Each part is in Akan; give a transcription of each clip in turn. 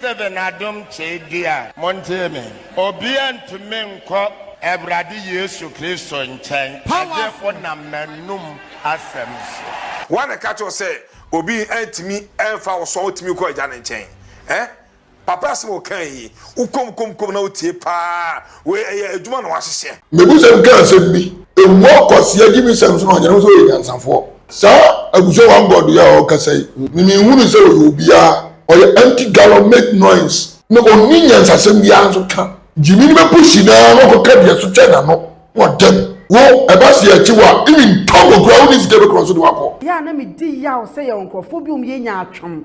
Sɛ bɛ na dom kyee di a. Montie me. Obia ntumi nkɔ Awurade Yesu Kristo nkyɛn gye onam m'anom asɛm so. Woa na ɛka kyerɛ wo sɛ obi antumi amfa wo so a wotumi kɔ Agya no nkyɛn? Ɛ? Papa asɛm a wokae yi, wokɔm kɔm kɔm na wotie paa Wei ɛyɛ adwuma na wahyehyɛ. Mebusɛm ka asɛm bi. Ɛwɔ kwasea gyimisɛm so na ɔnyane wo sɛ ɔyɛ nyansafoɔ. Saa abusua one God yi a ɔkasa yi, me menhunu sɛ ɔyɛ obiara. Ɔyɛ empty gallon make noise. Na ɔnni nyansasɛm biara nso ka. Gyimii no bɛpushi no ara na wakɔka deɛ ɛso kyɛn n'ano na ɔdam. Wo, ɛba sɛ yɛkye wo a, even tɔn wo koraa wonni sika bɛkora so de wo akɔ. Yɛ a na medi yaw sɛ yɛwɔ nkurɔfoɔ bi a wɔyɛ nyaatwom.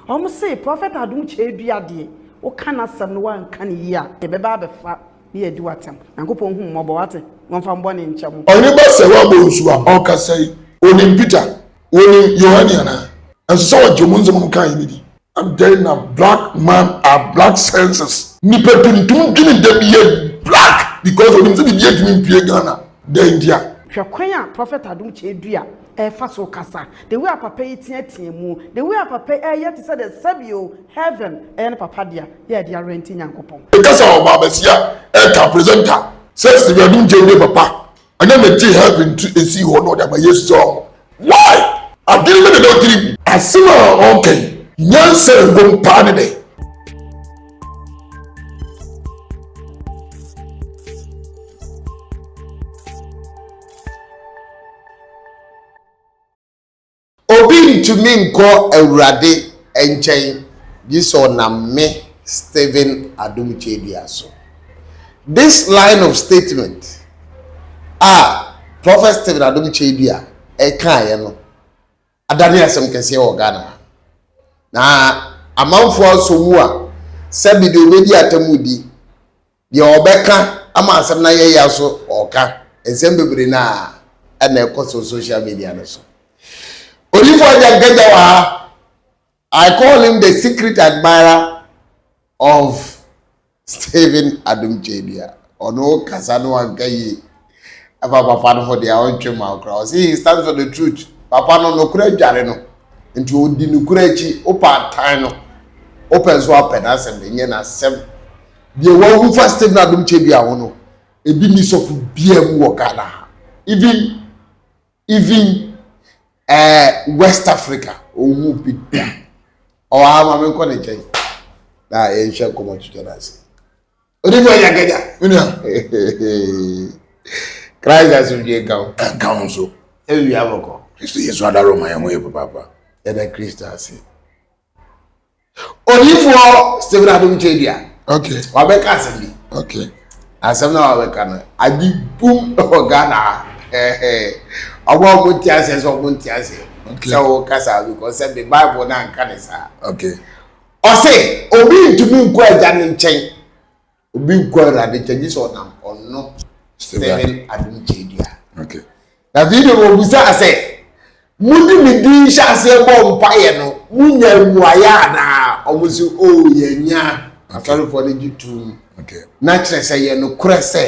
Wɔn se Prɔfɛt Adom Kyɛe Dua deɛ woka n'asɛm no woanka no yie a yɛbɛba abɛfa ne adi wo atɛm. Nyankopɔn hu wo mmɔbɔ wate, na ɔmfa wo bɔne nkyɛ mo. Ɔne ba sɛ wabɔ nsu a ɔkasa yi onim Peter onim Yohane anaa? Ɛnsɛ sɛ ɔgye ɔmo nsɛm ɔmo kaa yi no di. Adɛn na black man are black senses. Nipa tuntum dwene da bi yɛ black because onim sɛ biribiara ntumi mpue Ghana dɛn ntia. Hwɛ kwan a Prɔfɛt Adom Kyɛe Dua ɛfa so kasa the way a papa yi teatea mu the way a papa yi ɛyɛ te sɛ dɛ sɛbi o heaven ɛyɛ ne papa dea yɛ ɛde awɛnti nyankopɔn. Ɛkasa wɔ baabasia ɛka presenter sɛ Stephen Adunkyɛ nye papa ɛnyɛ me te heaven tu esi hɔ na ɔde ama yesu sɛ ɔho why adwene bɛ na ɛda ɔtiri mu. Asem a ɔɔka yi nyansa ɛwom paa ne dɛn. Obi ntumi nkɔ Awurade nkyɛn gye sɛ ɔnam me, Stephen Adom Kyedua so. This line of statement a Prophet Stephen Adom Kyedua ɛkaeɛ no adane asɛm kɛseɛ wɔ Ghana ha. Na amanfoɔ asɔ mu a sɛbi deɛ ɔbɛdi atamudi. Deɛ ɔbɛka ama asɛm no ayɛ ya so ɔɔka nsɛm bebree no a ɛna ɛkɔ so social media no so. Odifo Agya Nkagya wɔ ha. I call him the secret admirer of Stephen Adom Kyadua. Ɔno kasa no anka yie. Ɛfa papa no ho deɛ ɔntwe ma wo koraa. Ɔse he stands for the truth. Papa no nokorɛ adware no. Nti ɔdi nokorɛ akyi. Wopɛ atan no. Wopɛ nso apɛ n'asɛm. Ɛnyɛ n'asɛm. Deɛ wahu fa Stephen Adom Kyebia ho no, ebi nni sɔfo biara mu wɔ Ghana ha. Even even eh, West Africa, ɔnhu bi da. Ɔwɔ ha ma menkɔ ne nkyɛn na yɛnhwɛ nkɔmmɔ twitwa no ase. Ɔde bi ɔnya ganya. Menua. Christ asomdwe nka wo. Ɛnka wo nso. Ɛwia bɔkɔ. Kristo Yesu adaro ma yɛn ho yɛ papaapa. Yɛda Kristo ase. onifoɔ stephen adom kyɛdua okay. wabɛka asɛm bi okay. asɛm no a wabɛka no agye bum wɔ ghana ɔmo a ɔmo nte aseɛ sɛ ɔmo nte aseɛ sɛ wo kasa because sɛ de bible no anka ne saa ɔse obi ntumi nkɔ agya no nkyɛn Obi nkɔ Awurade nkyɛn gye sɛ ɔnam ɔno Stephen adom kyɛ dua. Na afei deɛ wɔbusaa sɛ, mode me din hyɛ aseɛ bɔ mpaeɛ no, monya mmuaeɛ anaa? Ɔmo se, o oh, yɛnya. Asɔrefoɔ no gye tom. Na kyerɛ sɛ yɛ nokorɛ sɛ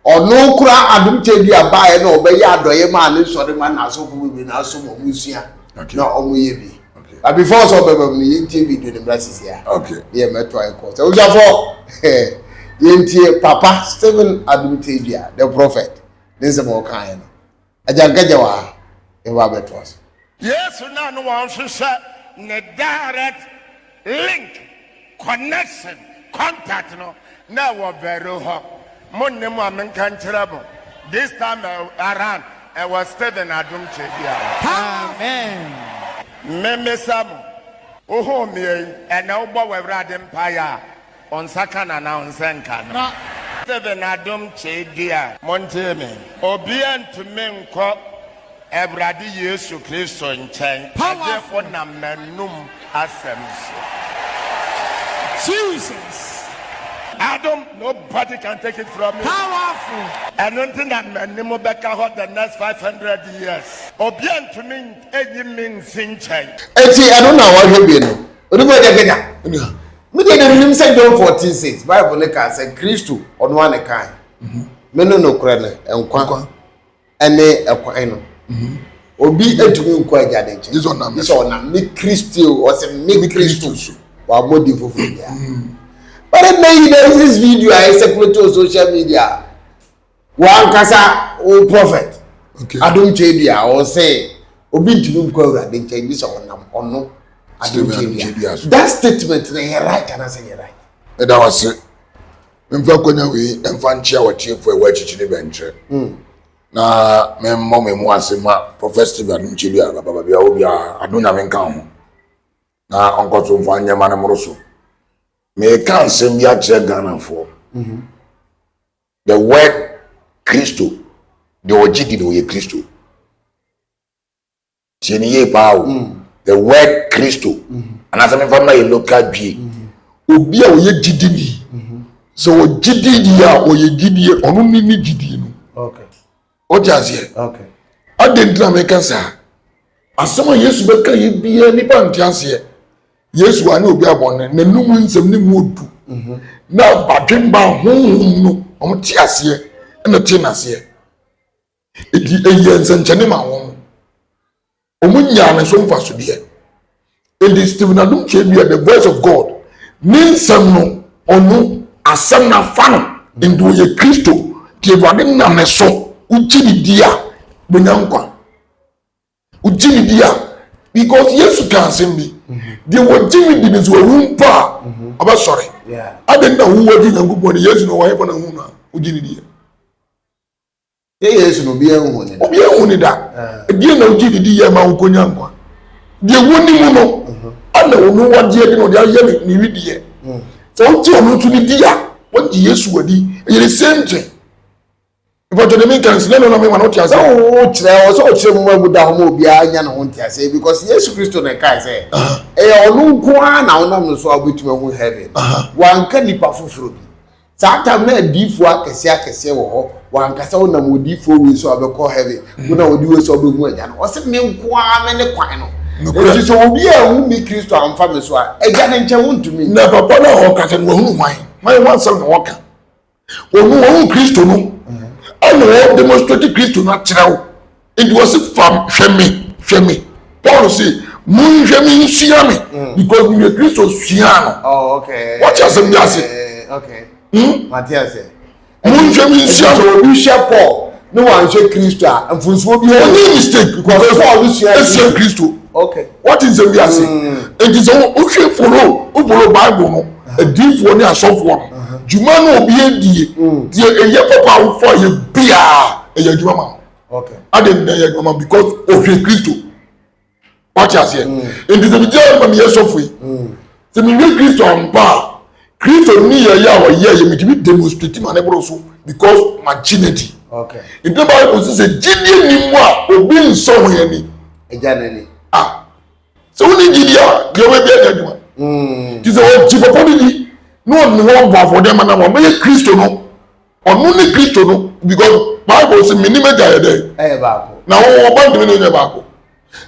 Ɔno koraa Adom Tebea baeɛ na ɔbɛyɛ adɔeɛ maa ne nsɔre ma n'asɔfo bebree na asom wɔn sua na wɔn yɛ bi. But before sɛ ɔbɛba mu no yɛntie video no mmra sisi a. Okay. Ne yɛ mɛto ayɛ kɔ. Sɛ wosuafo yɛntie Papa Stephen Adom Tebea the prophet ne nsɛm a ɔkaeɛ no. Agya Nkagya wɔ ha, yɛba abɛtoa so. Yesu na ne wɔn hwehwɛ ne direct link, connection, contact no na ɛwɔ Veroo hɔ. Mo nne mo a menka nkyerɛ mo, this time around ɛwɔ Stephen Adom Kyebia hɔ. Amen. Memesa mo, wo home yi, ɛnɛ wobɔ w'Awurade mpaeɛ a, O nsa ka na na o nsa nka no. Na. Sɛbe n'adom kyee di a. Montie me. Obia ntumi nkɔ Awurade Yesu Kristo nkyɛn gye onam m'anum asɛm so. Jesus. Adom, nobody can take it from me. Powerful. Ɛno nti na m'anim bɛka hɔ the next five hundred years. Obia ntumi nyi me nsi nkyɛn. Enti ɛno na wɔhwɛ wie no. Onipa agya kanya. Me deɛ na menim sɛ John 14 6 Bible no kaa sɛ Kristo ɔno ara ne kae mhm. me no nokorɛ no nkwa ɛne ɛkwan no mhm. obi atumi nkɔ agya ne nkyɛn gye sɛ ɔnam me Kristo ɔsɛ me Kristo so wabɔ di foforɔ biara mhm. but ɛnna yi na this video a ɛsɛ kuloto social media W'ankasa wo prɔfɛt adom kyɛ bi a ɔsɛ obi ntumi nkɔ awurade nkyɛn gye sɛ ɔnam ɔno adom kyɛ bi a that statement na yɛ right anasɛ yɛ right. ɛda wase memfa akwanya wei ɛmfa nkyea wɔtiefo ɛwɔ akyikyiri bɛnkyerɛ hmm. na memmɔ me mu ase ma prɔfɛt steve adom kyɛ bi a bababaabi a obi a ado nyame nka ho na ɔnkɔ so mfa nneɛma no mmoro so meka nsɛm bi akyerɛ ghanafoɔ mhm. The word Kristo, deɛ ɔgye di no ɔyɛ Kristo. Tie ne yie paa o. Mm. The word Kristo. Anaasɛ memfa mma yɛ local dwie. Obi a ɔyɛ gyidi ni. Sɛ ɔgye di ni a ɔyɛ gyidie ɔno ne ne gyidie no. Okay. wote aseɛ adɛn nti na meka saa asɛm a yesu bɛka yɛ biara nnipa nte aseɛ yesu anyɛ obi abɔne n'anum nsɛm ne mu odu mhm. na badwemba honhom no wɔn te aseɛ ɛna te n'aseɛ eti ɛyɛ nsɛnkyɛnne ma wɔn Wɔnyaa ne so mfasodeɛ. Enti Stephen Adom Twaadua, The Voice of God, ne nsɛm no, ɔno asɛm no afa no, enti ɔyɛ Kristo, nti Awurade nam ne so, wogye no di a, wobɛnya nkwa. Wogye no di a, because Yesu kaa asɛm bi, deɛ wɔgye me di no sɛ wawu mpo a, ɔbɛsɔre. Adɛn na wowu agye Nyankopɔn di? Yesu no, wɔn ahefa na hu no a, wogye no di a? Nyɛ Yesu na obiara nhuu no da. Obiara nhuu no da. Ɛdeɛn na wogye de diiɛ maa wokɔnya nkwa? Deɛ wonim no, ɛna ɔno wagye adi na ɔde ayɛ ne ne wedeɛ. Sɛ wogye ɔno nso no di a, wagye Yesu adi. Ɛyɛ the same thing. Mpatwɔ deɛ menka no, sɛ ɛno na mema no wote aseɛ. Sɛ wokyerɛ, ɔsɛ ɔkyerɛ mu ma ɛbu da hɔ ma obiara nya ne ho nteaseɛ because Yesu Kristo na ɛkae sɛ ɛyɛ ɔno nko ara na wonam no so a wobɛtumi ahu heaven. Wanka nnipa foforɔ bi. Saa tam na adiifoɔ akɛseɛ akɛseɛ wɔ hɔ wankasa wonam odiifoɔ wei so a wobɛkɔ heaven wonam odi wei so a wobɛhu agya no ɔse me nko ara me ne kwan no nti sɛ obi a ɛhu me kristo amfa me so a agya ne nkyɛn wontumi na papa no a wɔkasa no wahunu hwan hwan ho asɛm na wɔka wɔn wɔn kristo no ɛna wɔn demonstrate kristo no akyerɛ wo nti wɔ se fa hwɛ me hwɛ me paul se monhwɛ me nsua me mm. because meyɛ kristo sua no oh, wɔkyɛ asɛm bi ase hmm? monhwɛ me nsua me obi hwɛ paul ne wanhwɛ kristo a mfonsuo bi ɔnyɛ mistake because paul ne sua ɛsua kristo wɔte nsɛm bi ase nti sɛ wohwɛ folo wofolo bible no adiifoɔ ne asɔfoɔ no uh-huh. dwuma no obi adie deɛ ɛyɛ papa awofoɔ a yɛ biaa ɛyɛ adwuma ma no ade nna yɛ adwuma ma because ɔhwɛ kristo wate aseɛ mm. nti sɛ megye ayɛ ma meyɛ sɔfo yi mm. sɛ mehwɛ kristo ampa a kristo ne yɛyɛ a wɔyɛ yɛ metumi demonstrate ma ne borɔ so because magye no adi nti bible sɛ sɛ gyidie ni mu a obi nsɔ ho ani agya n'ani ah sɛ wone gyidie a deɛ wobɛbi anya adwuma mm. nti sɛ ɔgye papa no di na ɔne hɔ bɔ afɔdeɛ ma no wɔbɛyɛ kristo no Ɔno ne Kristo no because Bible sɛ menim agya yɛ dɛn? Ɛyɛ baako. Na wɔn ɔba ntumi ne nyɛ baako.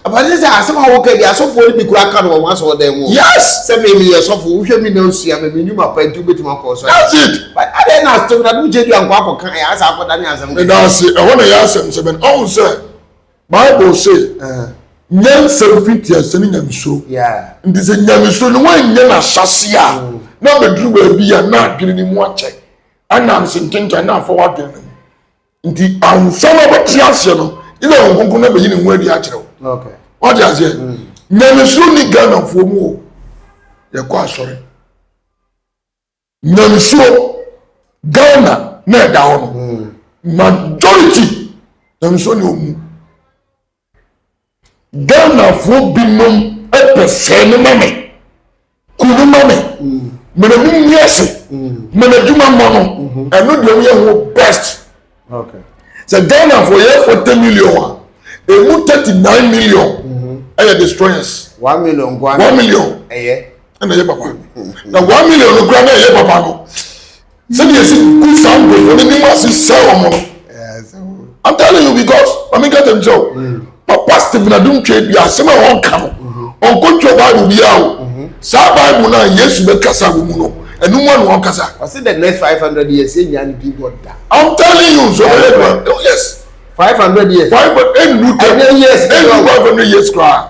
Abate sɛ asɛm a woka bi asɔfoɔ no bi koraa ka no wɔ wɔn asɔɔdan mu. Yes. Sɛ me meyɛ sɔfo wohwɛ me na osua me menim apa nti wobɛtumi akɔ ɔsɔre. That's it. But adɛn na asɔmina no gyedua nkɔ akɔka ɛ asa akɔda ne asɛm. Meda ase ɛhɔ na ɛyɛ asɛm sɛ bɛn ɔhu sɛ Bible se nyansa firi tiase ne nyamesuro. Nti sɛ nyamesuro no wɔnyɛ n'ahyɛse a na bɛduru baabi a na adwene ne mu akyɛ. ɛnam sentɛnkyɛ na afa w'adwene no mu nti ansa na wɔte aseɛ no ɛna wɔn nkonko na bɛyi ne ho adi akyerɛ wo wɔte aseɛ mm. nyamesuro ni ghanafoɔ mu o yɛkɔ asɔre nyamesuro ghana na ɛda hɔ no mm. majority nyamesuro ni ɔmu Ghanafoɔ binom pɛ sɛɛ no ma me, ku no ma me, mene mo nni ase, ma no adwuma mmɔ no, ɛno deɛ woyɛ ho best. Sɛ Ghanafoɔ yɛ 40 million a, ɛmu 39 million ɛyɛ destroyers. 1 million nkoa 1 million ɛyɛ ɛna ɛyɛ papa na 1 million no kura na ɛyɛ papa no sɛdeɛ yɛsi gu saa nkurɔfoɔ no anim ase sɛe wɔn no i'm telling you because maame nka tɛm kyerɛ o mm. papa stephen adumtwe bi asɛm a ɔnka no mm-hmm. ɔnkɔtwa bible biara o mm-hmm. saa bible no a yesu bɛkasa wɔ mu no ɛnu mu a na ɔnkasa. ɔsi the next five hundred years yɛ nya ne bi bɔ da. i'm telling you so ɔyɛ dwa oh, yes. five hundred years. five hundred ɛnu tɛ ɛnu five hundred years koraa.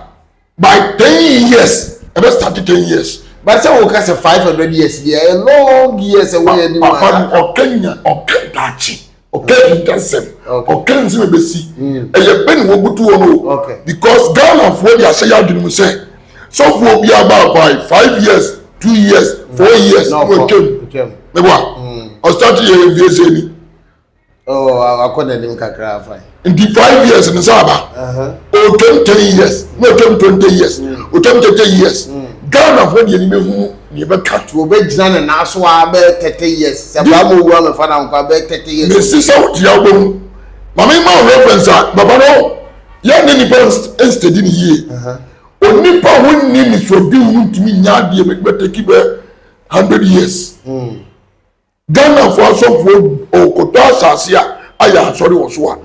by ten years ɛbɛ start ten years. bá sɛ wò ká sɛ five hundred years bi ɛ long years ɛ wọ́n yẹ ni mu ara. papa no ɔkẹ́ nya ɔkẹ́ daakye ɔkẹ́ hintasɛm ɔkẹ́ nsɛm ẹ bẹ si ɛyẹ bẹ ni wọ́n butu wọn o because Ghana fo de ahyɛ yɛ adwene mu sɛ sɔfo bi aba abae five years two years four years wọ́n twam mẹ bọ́ a ɔsitati yẹ yẹ nfiɛ sẹ ni. Oh, akɔ n'anim kakra afa. Nti five years no sɛ aba. Otwam ten years, na otwam twenty years, mm. otwam thirty years. Mm. Ghana fo deɛ ni bɛ hunu ni bɛ ka. Tí o bɛ gyina ne nan so a bɛ thirty years. Sɛ baa mo wu amɛ fa na nkwa bɛ thirty years. Mɛ sisan o tia o bɛ hu. Maame ma o reference a baba no yɛ ne nipa nsitɛdi ni yie. Onipa ho ni nisɔdi ho ntumi nya adeɛ bɛ bɛ teki bɛ hundred years. Mm. Ghanafoɔ asɔfoɔ ɔɔkɔtɔ asase a ayɛ asɔre wɔ so a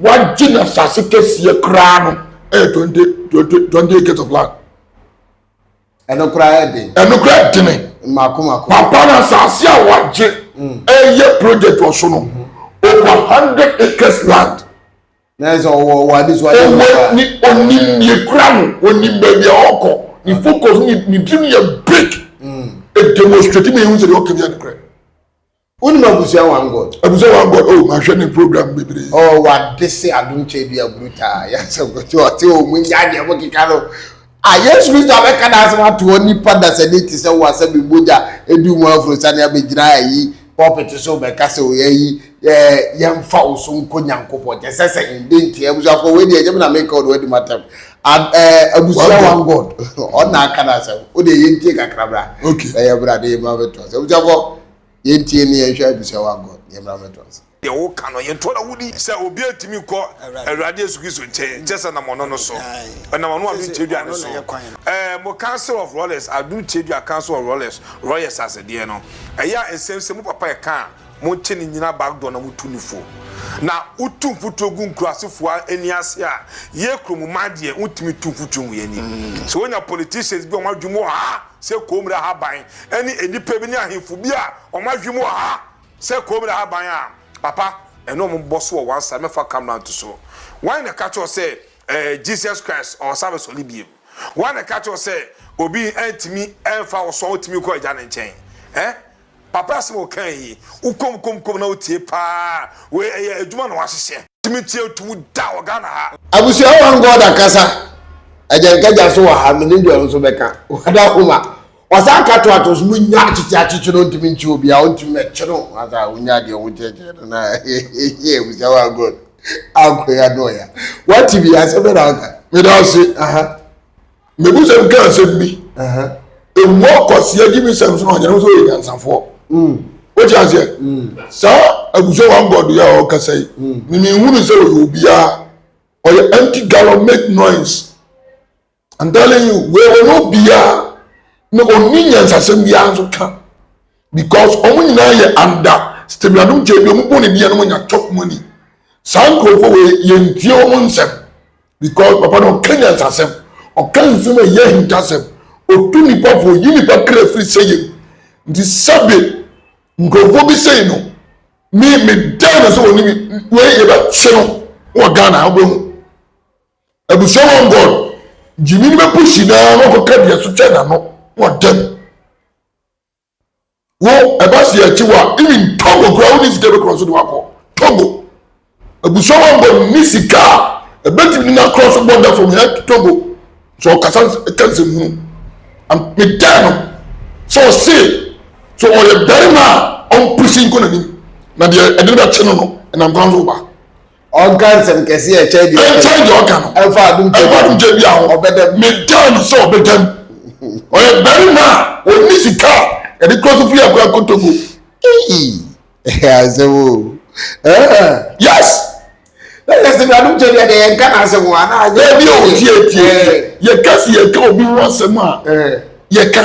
wagye na asase kɛseɛ koraa no ɛyɛ twenty twenty twenty acres of land. Ɛno koraa yɛ den. Ɛno koraa yɛ dene. Mako mako. Papa na asase a wagye ɛyɛ project wɔ so no over hundred acres land. Nanso ɔwɔ ɔwɔ adesoa yɛ ɔwɔ paa. ne onim mm. deɛ kura no onim baabi a ɔkɔ ne mm. focus ne ne dream yɛ big mm. e demonstrate ma ehu sɛ deɛ ɔka bi adekorɛ. wonim abusua one god. abusua one god oh mahwɛ ne program bebree. ɔ wade se adomkyɛ bi aburu taa yasɛ ɔte ɔte ɔmu nya deɛ mo keka no. A Yesu Kristo abɛka n'asɛm ato hɔ nipa dasani te sɛ wo a sɛ me mogya du mu afuro sane abɛgyina ayi pulpit so bɛka sɛ o ayi eh, yɛmfa wo so nkɔ Nyankopɔn kyɛ sɛ sɛ ɛn dɛn nti abusuafoɔ wei deɛ ɛnyɛ me na meka ɔde wadi matam Ab, eh, abusua one God ɔna aka n'asɛm wo deɛ yɛntie kakra bra na yɛbra de yɛmmra mɛtoa sɛ abusuafoɔ yɛntie ne yɛnhwɛ abusua one God yɛmmra mɛtoa sɛ Deɛ woka no yɛ ntɔn a woni. Sɛ obiara tumi kɔ Awurade Yesu Kristo nkyɛn kyerɛ sɛ nam ɔno no so. Ɔnam ɔno adom kyeredua no so. Ɛɛ mo council of Rollers adom kyeredua council of Rollers Royers ase deɛ no ɛyɛ a nsɛm sɛ mo papa ɛka a mo nkye no nyina back door na mo tu no fo na wo tu mfuturo gu nkurase foɔ ani ase a yɛ kuro mo man deɛ wo ntumi tu mfuturo ngu yɛ ani sɛ wo nya politicians bi a wɔn adwene mu wɔ ha sɛ Koomre Ahaban ɛne nnipa bi ne ahemfo bi a wɔn adwene mu wɔ ha. Sɛ koom na ahaban a, papa, ɛne ɔmo bɔ so wɔ one side, mɛfa camera nto so. Wan na ɛka kyerɛ wo sɛ ɛɛ Jesus Christ ɔɔsan abɛsɔre biem? Wan na ɛka kyerɛ wo sɛ obi ɛntumi ɛmfa wo so a wotumi kɔ Agya no nkyɛn? Ɛ? Papa asɛm a ɔkaa yi, wo koom koom koom na wo tie paa, wei ɛyɛ adwuma na w'ahyehyɛ. Tumi tie nto mu da wɔ Ghana ha. Abusua One God ankasa, Agya Nka Gya so wɔ ha, me ne Joel nso bɛka, Wada homa. Ɔsan nka to ato so mu nya akyekye akyekye no ntumi nkye obi a ɔntumi mɛkye no asa a wonya deɛ ɔho kyɛkyɛ no na yɛ abusa wa god ankɔ ya no ɔya wate bi asɛ bɛ na ɔka meda ɔse aha mebusɛm ka asɛm bi ɛmu akɔseɛ gye mesɛm so na ɔnyɛ no sɛ ɔyɛ nyansafoɔ wote aseɛ saa abusa wa god yɛ a ɔkasa yi memehunu sɛ ɔyɛ obiaa ɔyɛ anti gallon make noise I'm telling you, wei wɔn obiara na ɔnni nyansasɛm biara nso ka because wɔn nyinaa yɛ anda stemradom kyɛ bi wɔn bɔ ne deɛ no nya chop money saa nkurɔfoɔ wei yɛntie wɔn nsɛm because papa no ɔka nyansasɛm ɔka nsɛm a ɛyɛ ahintasɛm ɔtu nipa fo ɔyi nipa kra firi sɛ yɛm nti sɛbe nkurɔfoɔ bi sei no me me dan no sɛ wɔne me wei yɛbɛkye no wɔ ghana wobɛhu Abusua wɔn bɔɔl. Gyimii no bɛpushi no ara na wakɔka dua so kyɛ n'ano na ɔdɛm. Wo ɛba se akyi wa even Togo koraa wonni sika bɛkorɔ so de wakɔ Togo. Abusua wɔn bɔɔl nni sika a ɛbɛtumi de n'akorɔ so bɔ da fam hɛ Togo sɛ ɔkasa ɛka nsɛmhunu. Medaa no sɛ ɔse sɛ ɔyɛ barima a ɔmpushi nkɔ n'anim na deɛ ɛde no bɛkye no no ɛnam kwan so ba. ɔnka nsɛm kɛse a ɛkyɛn deɛ ɔka ɛnkyɛn deɛ ɔka no ɛmfa adom ɛmfa gyabia ho adom gyabia ho ɔbɛda mu medaa no sɛ ɔbɛda mu ɔyɛ barima a ɔnni sika a yɛde kura so firi akora kotogo Ei, ɛyɛ asɛm o Ah, yes na yɛ sɛ adom gyabia deɛ yɛnka n'asɛm o anaa agya daabi o tie tie tie Eh, yɛka si yɛka obi ho asɛm a eh. yɛka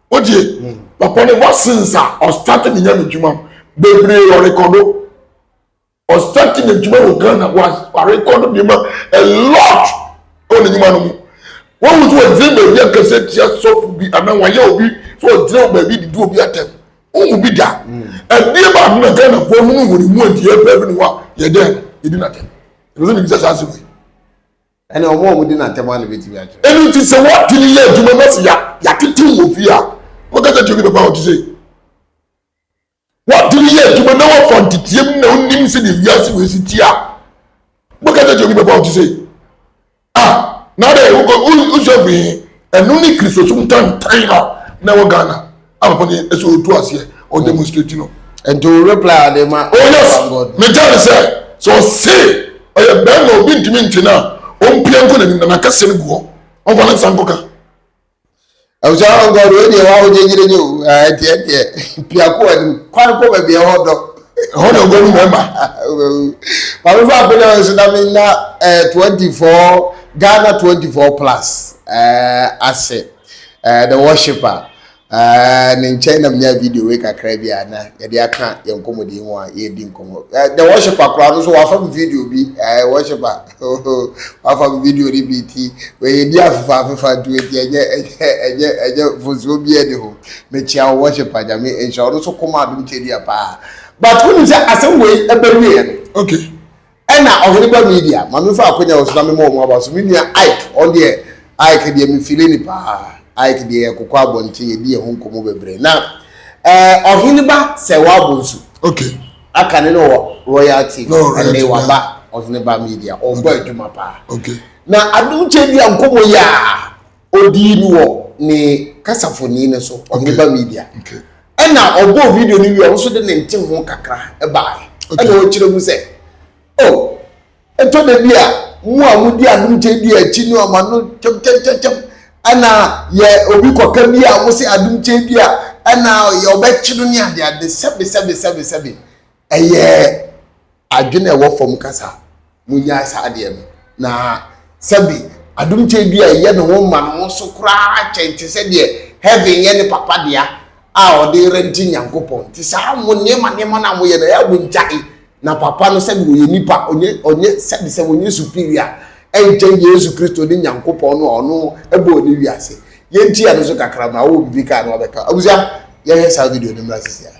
wotie mm. papa no ever since a ɔstart ne nya ne dwuma bebree ɔrekɔdo ɔstart ne dwuma wɔ ghana warekɔdo nneɛma a lot wɔ ne dwuma no mu wɔn mu nso wɔgyina baabi akɛse tia sɔfo bi anaa wɔayɛ obi so wɔgyina baabi didi obi atɛm wɔn mu bi da ɛdeɛ mm. baako na ghana fo ɔno mu wɔn mu ɛdeɛ pɛɛ bi ne hɔ a yɛdɛ yɛdi n'atɛm ɛbɛsɛ ne bi sɛ saa asɛm yi. Ɛnna wɔn a wɔdi no atɛm ano betumi atwerɛ. Ɛno nti, sɛ wɔpene yɛ adwuma na sɛ yɛatetew wɔ fie a, wɔka sɛ Johnny bɛba a ɔte sei. Wɔpene yɛ adwuma na wɔfa nteteam na onim sɛdeɛ wiase wei si te a, wɔka sɛ Johnny bɛba a ɔte sei. A na dɛ wosuafo yi, ɛno ne Kristosom tantan a na ɛwɔ Ghana. Abɛpɔ ne ɛsɛ otu aseɛ ɔ demonstrate no. Nti o reply a ɔde ma. Oh yes, megya ne sɛ sɛ ɔse ɔyɛ bɛrima obi ntumi nte no a ɔmpia nkɔ n'anim na n'akɛseɛ no gu hɔ ɔmfa ne nsa nkɔka. Abusua hɔ nkɔ do wei deɛ wawo gyegyeregye o ɛnti ɛdeɛ pia kɔ anim kwan kɔ baabi ɛhɔ dɔ. Ɛhɔ na ɔbɛwu mɛma. Maame fa akonnwa wɔ nso na me na eh, twenty four Ghana twenty four plus eh, ase eh, the worshipper. ne nkyɛn na menyaa video wei kakra bi a na yɛde aka yɛn nkɔmmɔdi yi ho a yɛredi nkɔmmɔ the worshiper koraa no so wafa me video bi worshiper wafa me video no bi nti wɔyɛ di afefa afefa nti wɔti ɛnyɛ ɛnyɛ ɛnyɛ ɛnyɛ mfonsuo bi ɛni ho mekyia wo worshiper nyame nhyira ɔno so kɔma adom kyɛ di a paa but wonim sɛ asɛm wei ɛbɛwieɛ no okay Ɛna ɔhene ba media ma me fa akonya wɔ so na me ma ɔmo aba so me nua Ike ɔn deɛ Ike deɛ me file ne paa Ike deɛ yɛ kokɔ abɔnten yɛ di yɛ ho nkɔmɔ bɛbrɛ na ɛɛ ɔhene ba sɛ wa bo nso okay aka ne no wɔ royal tv ɛne wa ba ɔhene ba media ɔn bɔ adwuma paa okay na adum kyɛ di yɛ nkɔmɔ yɛ aa. ɔdii no wɔ ne kasafoni no so ɔmeba media ɛna ɔbɔɔ video no wie ɔno nso de ne nte ho kakra ɛbaeɛ ɛna ɔkyerɛ mu sɛ o oh, ɛtɔ da bi a mu a modi anom kyɛ di akyi no ɔma no kyɛmkyɛmkyɛm ɛna yɛ obi kɔka bi a mo se adom kyɛ bi a ɛna ɔbɛkye no ne adeade sɛbesɛbesɛbesɛbe Ɛyɛ adwene a ɛwɔ fam kasa. Monnyae saa adeɛ no. Na sɛbi adom tadua a ɛyɛ ne ho ma ne ho so koraa kyɛn te sɛ deɛ heaven yɛ ne papa dea a ɔde rente Nyankopɔn. Te saa mo nneɛma nneɛma no a moyɛ no ɛyɛ a mongyae. Na papa no sɛbi ɔyɛ nipa, ɔnyɛ ɔnyɛ sɛbi sɛ ɔnyɛ superior ɛnkyɛn Yesu Kristo ne Nyankopɔn no a ɔno ɛbɔɔ ne wiase. Yɛntia no so kakra ma ɔwɔ biribi kaa na wabɛka. Abusua, yɛnhwɛ saa video no mmra sisi ara.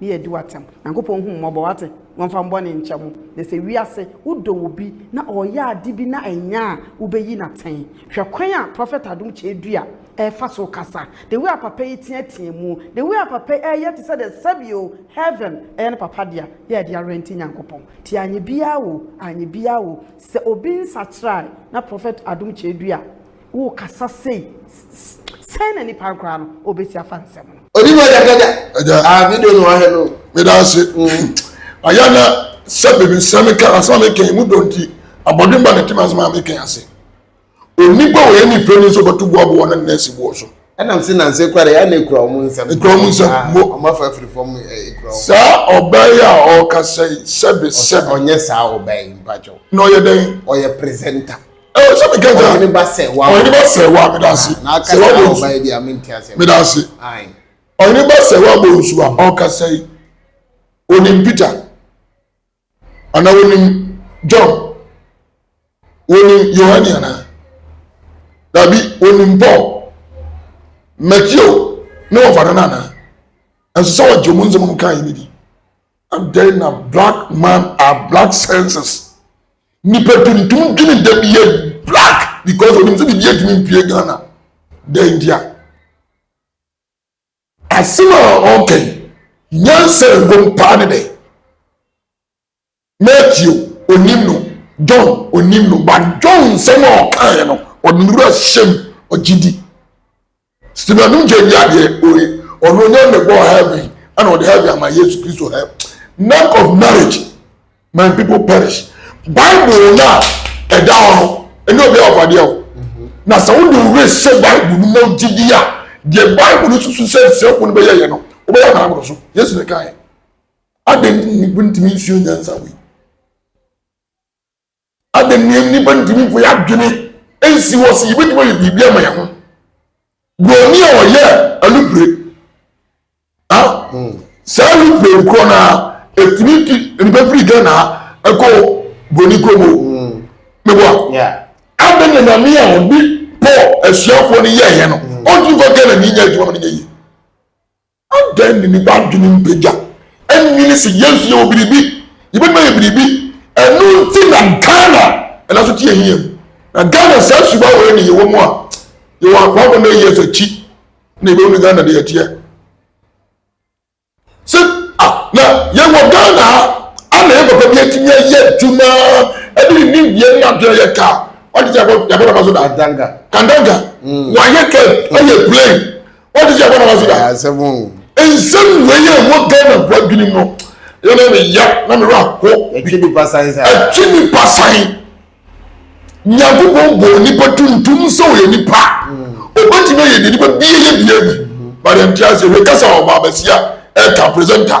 Ne yɛ di watsɛm. Nyankopɔn hu mmɔbɔ w'ate, wɔnfa mbɔne nkyɛ mo. Na sɛ wiase wodɔ obi na ɔɔyɛ ade bi na ɛnyɛ a wobeyi no atsɛn. Hwɛ kwan a Prophet Adom Kyɛɛdua ɛɛfa so kasa. The way a papa yi teatea mu, the way a papa yi ɛɛyɛ te sɛ dɛ sɛbi o heaven ɛyɛ ne papa dea yɛ ɛde arɛnti Nyankopɔn. Nti anyɛ biaa o, anyɛ biaa o, sɛ obi nsakyera a na Prophet Adom Kyɛɛdua. Worekasa sei, sɛn na nipa koraa no obesi afa nsɛm no? Onipa gyagyaga. Agya. Ah, video no wahwɛ no. Meda ase. Mm. Ayɛ na sɛ baabi nsɛm meka asɛm a meka mu dɔ nti abɔden ba na ti ma asɛm a meka ase. Onipa wɔ yɛ ne fɛ ni nso bɛto boaboa na nɛɛse boɔ so. Ɛnam se nanse kora yɛ na ekura wɔn nsɛm. Ekura wɔn nsɛm. Ah, wɔn afa afiri fam eh, ekura wɔn. Saa ɔbaa yi a ɔrekasa yi sɛbe sɛbe. Ɔnyɛ saa ɔbaa yi mpakyɛw. Na ɔyɛ dɛn? Ɔyɛ presenter. ɛwɔ sɛ meka gya ɔhene ba sɛ wa ɔhene ba sɛ wa meda ase na ɔka sɛ sɛ wabɔ ɔba bi a mente aseɛ meda ase ɔhene ba sɛ wabɔ nsu a ɔkasa yi onim peter anaa onim john onim yohane anaa dabi onim paul matthew ne wɔfa no no anaa ɛnso sɛ wɔgye ɔmo nsɛm ɔmo kaa yi ne di Adɛn na black man are black senses nipa tuntum dwene da bi yɛ black because onim sɛ biribi atumi mpue Ghana dɛn nti a asɛm a ɔka yi nyansa ɛwom paa ne dɛn Matthew onim no John onim no but John nsɛm a ɔkaeɛ no ɔde ne wura hyɛm ɔgye di Stephen no gye nyaa deɛ oye ɔno ɔnya ne bɔɔ heaven ɛna ɔde heaven ama yesu kristo hɛ none of marriage my people perish bible na ɛda hɔ no ɛne obi a ɔfadeɛ o na sɛ wode wo were hyɛ bible no mu gyidi a deɛ bible no susu sɛ nsɛmfo no bɛyɛ yɛ no wobɛyɛ na aboro so yesu ne kae adɛn nti ne ntumi nsuo nyansa wei Adɛn nti na nnipa ntumi mfa yɛn adwene nsi hɔ sɛ yebetumi ayɛ biribi ama yɛn ho? Buroni a ɔyɛ alupire a hmm. saa alupire no korɔ na etumi tu nnipa firi Ghana ɛkɔ buroni kurom o. Hmm. Mebo a. Adɛn na nyame a ɔde Paul asuafoɔ no yɛɛyɛ no ɔntumi fa Ghana ni nyɛ adwuma ma no nyɛ yie? Adɛn ne nnipa adwene mpagya nnwene se Yesu yɛ wɔ biribi, yɛbɛtumi ayɛ biribi, ɛno nti na Ghana ɛda so te ahia mu. Na Ghana saa suban wei ne yɛwɔ mu a, yɛwɔ akwa abɔ na years akyi na yɛbɛhu ne Ghana de ɛteɛ. Se a, na yɛwɔ Ghana ha, a na yɛn papa bi atumi ayɛ adwuma, ɛde ne nimdeɛ ne adwene yɛ kaa, wagye sɛ yɛabɔ naba so da. Kandanga. Kandanga, wayɛ kaa, ɛyɛ plane, wɔn ti sɛ ɛbɔ na wɔn ti da. asɛm o. nsɛm wei yɛ ɛwɔ ghana bu adwene mu no yɛ na mi ya na mi wura ho. ɛtwi nipa san saa. ɛtwi nipa san nyankopɔn bɔ nipa tuntum sɛ ɔyɛ nipa ɔbɛtumi ayɛ deɛ nipa bie yɛ bie bi bade nte aseɛ wei kasa ɔba abɛsi a ɛka presenter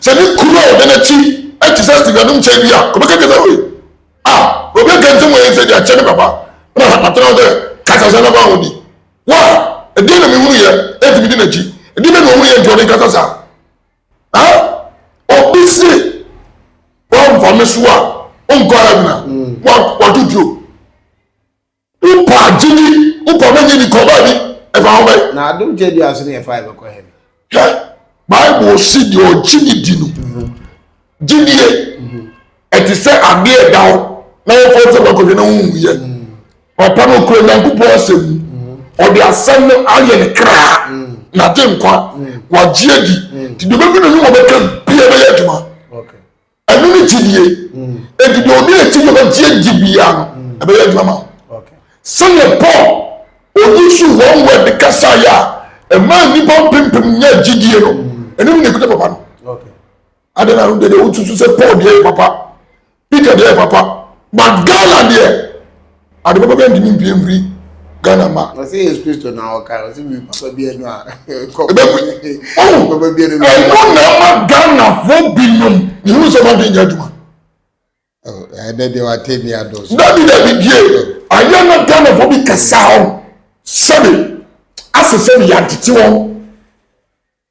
Sɛ ne kunu a ɔda n'akyi te sɛ Steve anom kyɛn bi a, ɔbɛka kyerɛ sɛ, Oi, a, obi aka nsɛm wɔ yɛn sɛ deɛ akyɛ me papa na matena hɔ sɛ kasa sɛ na ma ho ni. Wo a, ɛdeɛ na mehunu yɛ, enti medi n'akyi. Ɛdeɛ bɛ na ɔhunu yɛ nti ɔde nkasa saa? Ha? Obi se, Woamfa me so a, wonkɔ heaven a, hmm. woato tuo. Wopɛ agyedi, wopɛ ɔbɛ gyedi kɔ baabi, ɛfa ho bɛn? Na adom gyedi aso ne ɛfa ɛbɛkɔ hɛn. Hwɛ, Bible si deɛ ɔgye ne di no, gyedie, ɛte sɛ adeɛ ɛda hɔ na wɔfɔ sɛ bɛkɔhwɛ na wonwuyɛ. Papa no ɔkura Nyankopɔn asɛm mu, ɔde asɛm no ayɛ ne kraa, na gye nkwa, wagye adi, nti deɛ ɔbɛgu n'anim ɔbɛka bia bɛyɛ adwuma. ɛno ne gyidie ɛti deɛ ɔde ɛti deɛ ɔbɛgye agye biara no ɛbɛyɛ adwuma ma sɛdeɛ paul ɔyi so wɔn wɔ de kasa yɛ a ɛma nnipa mpempem nyɛ gyidie no ɛno ne nekuta papa no adɛn na no deɛ deɛ wotutu sɛ paul deɛ yɛ papa peter deɛ yɛ papa but ghana deɛ Ade papa bɛn ntumi mpie mfiri Ghana mma. Ɔsɛ Yesu Kristo na ɔka ɔsɛ mi papa bi ɛnu a nkɔkɔ oh! papa bi ɛnu. Ɛnu na ama Ghanafo binom mihu sɛ ɔma de nyɛ adwuma. Oh, Ɛdɛ deɛ wate bi adɔ so. Dabi dabi die ayɛ na Ghanafo bi kasa hɔ sɛbi asɛ sɛbi yɛatete wɔn.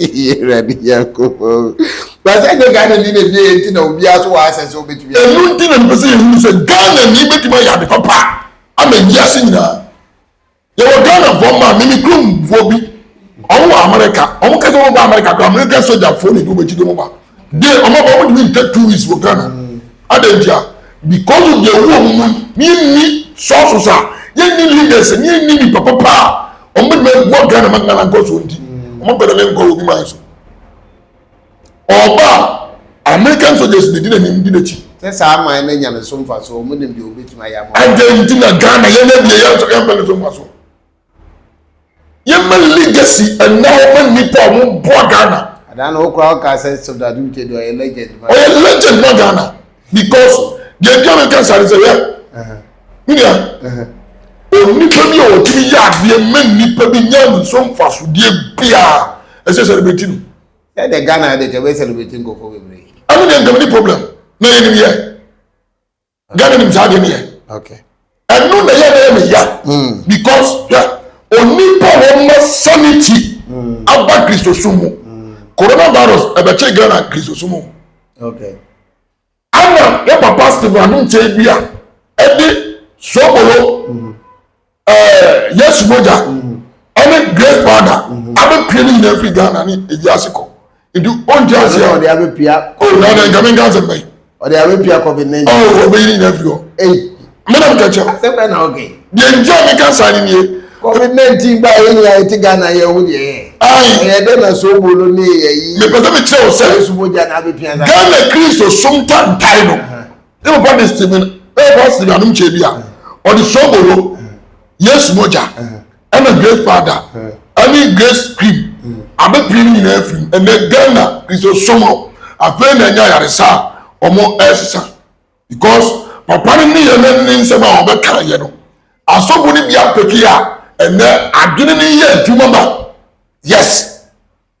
Awurade Nyankopɔn. Ba sɛ nyɛ Ghana ni na ebia enti na obiara nso wɔ asɛ sɛ obetumi. Ɛno nti na mepɛ sɛ yɛhunu sɛ Ghana ni bɛtumi ayɛ ade papa ama wiase nyinaa. Yɛwɔ Ghanafoɔ mmaa, mimi kuromfoɔ bi, wɔn wɔ Amerika. Wɔn kasa wɔn ba Amerika kora, Amerika sogyafoɔ na ɛdi wɔn akyi de wɔn ba. de wɔn aba wɔn ntumi ntɛ two weeks wɔ ghana adan ntia because of the ewu wɔn mu ni yɛn ni sources a yɛn ni leaders ni yɛn ni nipa papa a wɔn bɛ bɛ bɔ ghana ma ghana nkɔ so nti wɔn bɛ dɛm nkɔ obi maa so ɔba american soldiers de di na nim di n'akyi. sɛ saa aman no nya ne so mfa so wɔn nim deɛ wɔbɛtumi ayɛ ama. adan nti na ghana yɛn na ebien yɛn nso yɛn bɛ ne so mfa so. yɛma legacy ɛna ɔma nnipa a wɔn boa ghana. adaa na okura ɔka sɛ sɔfda adumkye deɛ ɔyɛ legend ma. ɔyɛ legend ma ghana because deɛ nti a mi nka sáré sɛ yɛ nua onipa bi a ɔtumi yɛ adeɛ mɛ nnipa bi nya nso nfasodeɛ biara ɛsɛ celebrate no. sɛ de ghana de kɛ bɛ celebrate nkɔfɔ bebree. ɛmi deɛ nkɛmɛ ni problem na yɛ ni yɛ. ghana nim saa adeɛ no yɛ ɛno na yɛ na yɛ ne ya hmm. because hwɛ onipa wɔn ma sanity hmm. aba kristosom mu hmm. coronavirus ɛbɛkye ghana kristosom mu ana yɛ papa stephen anum kyɛn bi a ɛde sobolo ɛɛ yesu mogya ɛne grace powder abɛpie ne nyinaa firi ghana ne ewiase kɔ nti ɔngye ase a ɔde abɛpia ɔwura na nkame nka asɛm bɛyi ɔde abɛpia covid ne nyinaa ɔwɔ ɔbɛyi ne nyinaa firi hɔ mena meka kyɛw asɛm bɛ na ɔgɛ deɛ nti a meka saa ne nie covid 19 ba yɛ nyinaa ɛte ghana yɛ wo deɛ yɛ ɛyɛ dɛ na so obo no ne yɛ yi mepɛ sɛ mekyerɛ wo sɛ ghana kristo som tantae no Ne papa de simi ne papa simi anum kyɛ bi a ɔde sobolo yesu mogya ɛna grace powder ɛne grace cream abɛpiri ne nyinaa afiri ɛnɛ ghana kristosom no afei na ɛnyɛ ayaresa a wɔn ɛresesa because papa no ne yɛ ne ne nsɛm a wɔbɛka yɛ no asɔfo no bi apɛki a ɛnɛ adwene no yɛ adwuma ma yes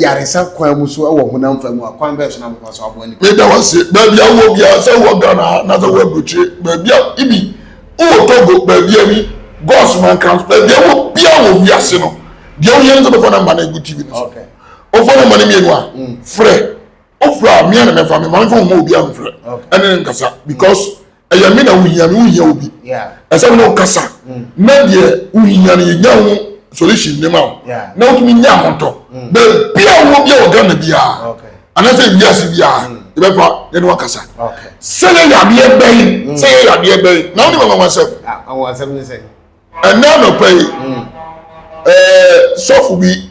yaresa kwan mu so wɔ honam fa mu a, kwan bɛn so na mofa so aboa nnipa? Meda wo ase baabi a wowɔ biara, sɛ wowɔ Ghana ha anaasɛ wowɔ aburokyire baabi a, ibi wowɔ Togo baabi a ni, Gos Mankrams baabi a wowɔ biara wɔ wiase no, deɛ wohia ne sɛ bɛfa namba no agu TV no so. Okay. Wofa namba no mmienu a, mm. frɛ. Wofrɛ a, mmea na mɛfa, me maame fa ho ma obiara mfrɛ. Okay. Ɛne ne nkasa because ɛyɛ me na wohia me wohia obi ɛsɛ me ne wo kasa mm. na deɛ wohia no yɛnya ho solution ne ma wo na wotumi nya ahotɔ mm. baabia wɔ bia wɔ ghana biaa anaasɛ wiase biaa mm. yɛbɛfa yɛne wakasa sɛ yɛyɛ adeɛ bɛn sɛ yɛyɛ adeɛ bɛn na wone mama wasɛm ɛnɛ anɔpa yi sɔfo bi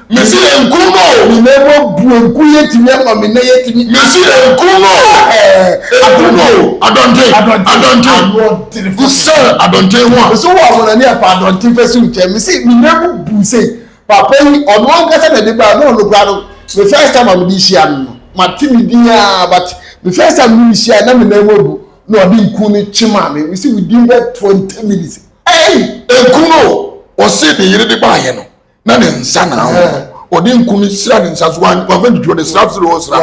Me se enkum no o. Me nan mu abu enku yɛ ntimi ama me nan yɛ timi. Me se enkum no o. Ɛɛ enkum no o. Adɔnten adɔnten kusɛn adɔnten ho a. Me se wo amona ne ɛpa adɔnten fɛ si nkyɛn me se me nan mu bu sei papa yi ɔno ankasa na ɛde baa na ɔno koraa no me first time a me de hyia no no ma te ne din aa but me first time ne me hyia na me nan mu abu na ɔde nku no kye maa me me se within that twenty minutes ɛɛyi. Enkum no o. Ɔse ne yere de baayɛ no. na ne nsa na ho ɔde nku no sira ne nsa so wamfa didi ɔde sra sere hɔ sra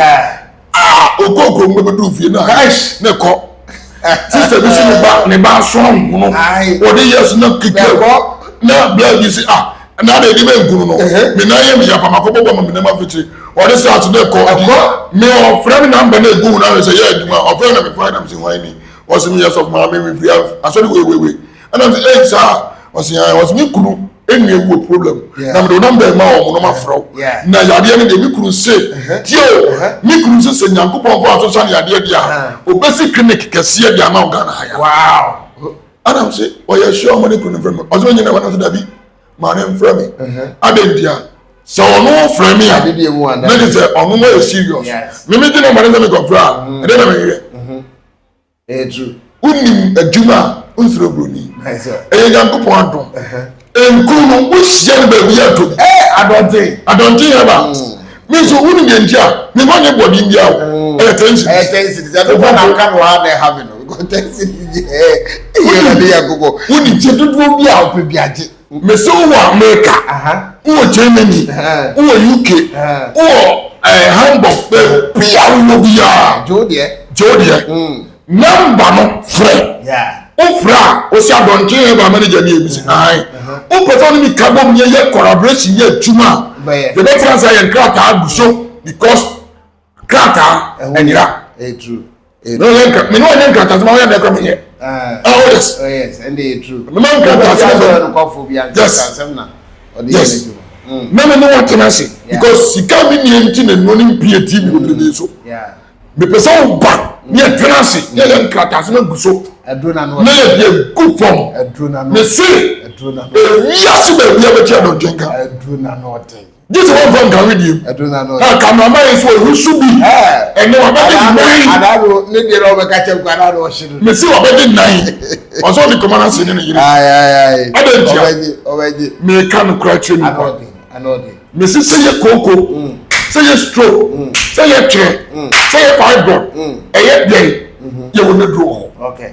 aa ɔkɔ kurom no bɛduru fie na ne kɔ sista bi si ne ba ne ba aso ahono ɔde yɛ so na kika na bla bi si ah na de de bɛ nkunu no me nan yɛ me yɛ apama kɔbɔ bɔ ma me nam afitiri ɔde sra so na kɔ me ɔfrɛ me namba na egu na sɛ yɛ adwuma ɔfrɛ na me fɔ na me si hwan ni ɔsi me yɛ sɔfo maame me fia asɔre wewewe ɛna ɔsi ɛyi saa ɔsi ɛn ɔsi mi kunu enu ewu wɔ problem na mi de ɔnam bɛn ma wɔn nom afrɛw na yadeɛ no deɛ mi kunu se tie o mi kunu se sɛ nyankopɔn kɔ aso san yadeɛ deɛ a obesi clinic kɛseɛ deɛ ama ɔgana ha ya ɛna ɔsi ɔyɛ sure ɔmo ne kunu nfrɛ mi ɔsi mi nyina wɔn nso dabi maa ne nfrɛ mi adan ntia sɛ ɔno nfrɛ mi a ne de sɛ ɔno mo yɛ serious mi mi gyina ɔmo ne sɛ mi kɔ fira ɛde na mi yɛ. wonim adwuma a wonsrɛ buroni ɛyɛ nyankopɔn adom nkuru no wohyia no baabi yɛ adom adɔnten adɔnten yɛ ba me nso wonim yɛn nti a mema ne bɔden bia o ɛyɛ tɛnsi ɛyɛ tɛnsi sɛ ɛbɛfa na nka no a na ɛha me no tɛnsi yɛ ɛyɛ na ne yɛ gogɔ wonim sɛ dodoɔ bi a wopɛ bi agye Mese wowɔ Amerika, wowɔ Germany, wowɔ UK, wowɔ eh, Hamburg, baabi a wowɔ biara. Joe deɛ. Joe deɛ. Mm. Namba no frɛ. Yeah. Wofrɛ a, wosi adɔnkye yɛ ba manager ni ebi si. Ayi. Wopɛ sɛ ɔne mi ka bom yɛ yɛ collaboration yɛ adwuma a. Bɛyɛ. Yɛbɛtra nsa yɛ nkrataa agu so because krataa ɛnyera mene ɔnyɛ nkrataa sɛ ma woyɛ dɛ kora menyɛ oh yes mema nkrataa sɛ yes na me ne wɔtena ase because sika me nneɛ nti na nnuo ne mpie ti me wɔbrɛni so mepɛ sɛ woba ne yɛtena ase ne yɛyɛ nkrataa sɛ magu so na yɛde agu fam mese ɛwiase baabi a bɛkyɛ dɔnkyenka gye sɛ wɔmfa nka wedeɛ mu ɛduru na no na kamerama yi nso ɔhu so bi ɛnɛ wabɛde nan anaado ne deɛ na ɔbɛka kyɛm kɔ anaado ɔhye no mese wabɛde nan ɔsɛ ɔde kɔma no ase ne ne yere adɛ ntia meka no kora kyerɛ nipa mese sɛ yɛ kooko mm. sɛ yɛ stroke mm. sɛ yɛ twerɛ mm. sɛ yɛ fibroid ɛyɛ dɛn mm-hmm. yɛwɔ ne duro wɔ hɔ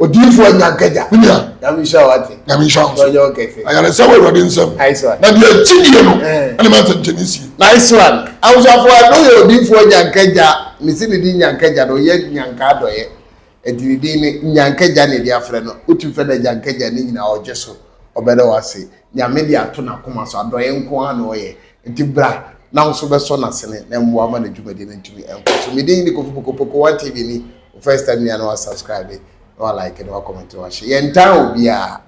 odiyifoɔ anya nkagya me nua nyame nhyira wo ate nyame nhyira wo ɔnyɛ wo kɛse ayaresɛ wɔ awurade nsɛm na deɛ gyidie no ɛne ma nsɛnkyɛne sie nice one awosafoɔ a no yɛ odiyifoɔ anya nkagya mesi ne din nya nkagya no ɔyɛ nyanka adɔyɛ ɛti ne din ne nya nkagya ne ɛde afrɛ no wotu fɛ na agya nkagya ne nyinaa ɔgye so ɔbɛdɛ wase nyame de ato n'akoma so adɔyɛ nko ara na ɔyɛ Enti bra na wo nso bɛsɔ n'asene na mmoa ma ne dwumadi no ntumi nkɔ so. Me din ne Kofi Pokopoko, One TV ni. Wo first time nua na wa subscribe, na wa like, na wa comment, na wa share. Yɛntaa obiara,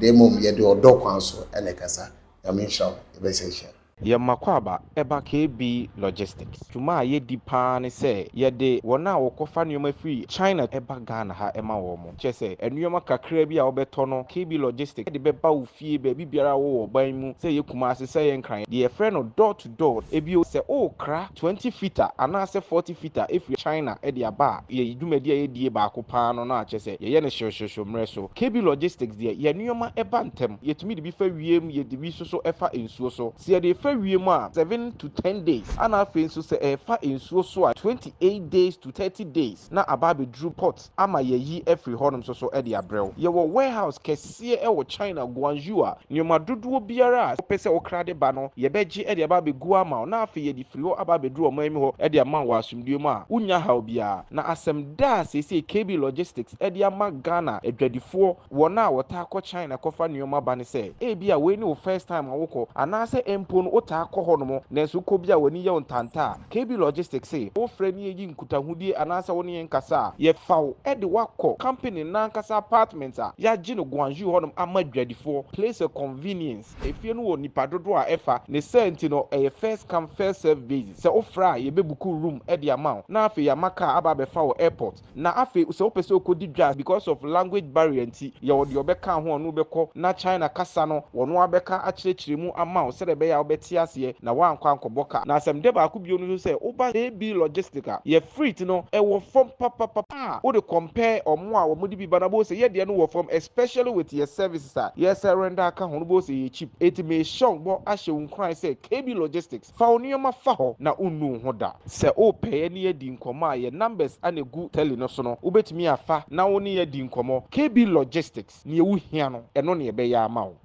na mmom yɛde ɔdɔ kwan so na ɛkasa. Nyame nhyira wo. Yɛbɛsan ahyia. Yɛ Mmakwaba ba KB Logistics. Dwuma a yɛdi paa ne sɛ yɛde wɔn a wɔkɔfa nneɛma firi China ba Ghana ha ma wɔn. Kyerɛ sɛ, nneɛma kakraa bi a wobɛtɔ no, KB Logistics de bɛba wo fie baabi biara a wowɔ wɔ ɔman mu, sɛ ɛyɛ Kumasi, sɛ ɛyɛ Nkran, deɛ yɛfrɛ no door to door. Bio, sɛ worekra twenty fita anaasɛ forty fita afiri China de aba a, yɛn dwumadi a yɛdie baako pa ara no no a, kyerɛ sɛ, yɛyɛ no hyew-hyew-hyew mmerɛ so. KB Logistics deɛ, yɛn nneɛma ba ntɛm. Yɛtumi de bi fa wiem, yɛde bi nso so fa nsuo so. Sɛ yɛde refa wiem a, seven to ten days, ɛna afei nso sɛ ɛrefa nsuo so a, twenty eight days to thirty days na aba abɛduru port. ama yɛayi afiri hɔnom nso so de abrɛ wo. Yɛwɔ warehouse kɛseɛ wɔ China, Guangzhou a nneɛma dodoɔ biara a wopɛ sɛ wokra de ba no, yɛbɛgye de aba abɛgu ama wo na afei yɛde firi hɔ aba abɛduru ɔman mu hɔ de ama wo wɔ asomdwoeɛ mu a wonnya haw biara. Na asɛm da a seesei KB Logistics de ama Ghana adwadifoɔ, wɔn a wɔtaa kɔ China kɔfa nneɛma ba ne sɛ, ebia wei ne wo first time a wokɔ, anaasɛ mpo no wotaa kɔ hɔnom nanso wokɔ bi a w'ani yɛ wo ntanta a, KB Logistics se, Wo frɛ ne yɛyi nkutahodie anaasɛ wo ne yɛn kasa a, yɛfa wo de wo akɔ company no ankasa apartment a yɛagye no Gwangju hɔnom ama adwadifoɔ, place a convenience. Efie no wɔ nnipa dodoɔ a ɛfa, ne saa nti no ɛyɛ first come first serve basis, sɛ wo frɛ a yɛbɛbuku room de ama wo na afei yɛama car aba abɛfa wo airport. Na afei sɛ wopɛ sɛ okodi dwa because of language barrier nti, yɛwɔ deɛ ɔbɛka ho a ɔne wo bɛkɔ na China kasa no ɔno ara bɛka akyerɛkyerɛ mu ama wo sɛdeɛ ɛbɛyɛ a wobɛte aseɛ na woankɔ ankɔbɔ ka. Na asɛmdɛ baako bio no nso sɛ woba AB Logistic a, yɛ freight no ɛwɔ fam papapapa a wode compare wɔn a wɔde bi ba no a wobɛhu sɛ yɛ deɛ no wɔ fam especially with yɛ services a yɛsɛ render aka ho no wobɛhu sɛ ɛyɛ cheap. Enti mehyɛ wo bɔ ahyɛ wo nkuran sɛ KB Logistic, Fa wo nneɛma fa hɔ na wonnu wo ho da. Sɛ wopɛ yɛ ne yɛadi nkɔmmɔ a, yɛn numbers na ɛgu tele no so no, wobɛtumi afa na wo ne yɛn adi nkɔmmɔ. KB Logistics, neɛ wo hia no, ɛno na yɛbɛyɛ ama wo.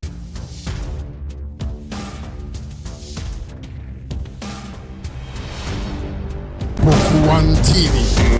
Book One TV.